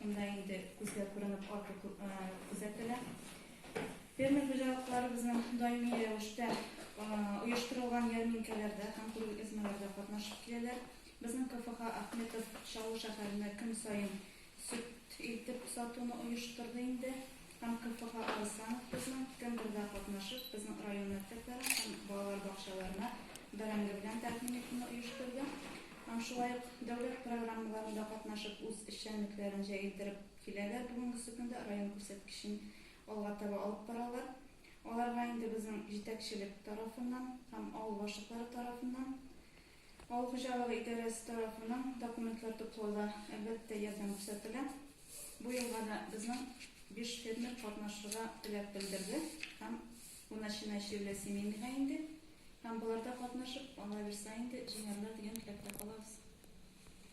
Монда инде күзгә күренеп арту күзәтелә. Фермер хуҗалыкларыбызның даими рәвештә оештырылган ярминкәләрдә һәм күргәзмәләрдә катнашып киләләр. Безнең КФХ Ахметов Чаллы шәһәренә көн саен сөт илтеп сатуны оештырды инде. Һәм КФХ Алсанов кызны кемдер дә катнашып безнең район мәктәпләрен һәм балалар бакчаларына бәрәңге белән тәкъдим итүне оештырды һәм шулай ук дәүләт программаларында катнашып үз эшчәнлекләрен җәелдереп киләләр, бүгенгесе көндә район күрсәткечен алга таба алып баралар. Аларга инде безнең җитәкчелек тарафыннан һәм авыл башлыклары тарафыннан Авыл хуҗалыгы идарәсе тарафыннан документлар туплауда, әлбәттә, ярдәм күрсәтелә. Бу елга да безнең биш фермер катнашырга теләк белдерде һәм бу начиная чирле семейныйга инде һәм боларда катнашып, аллабирса инде, җиңәрләр дигән теләктә калабыз.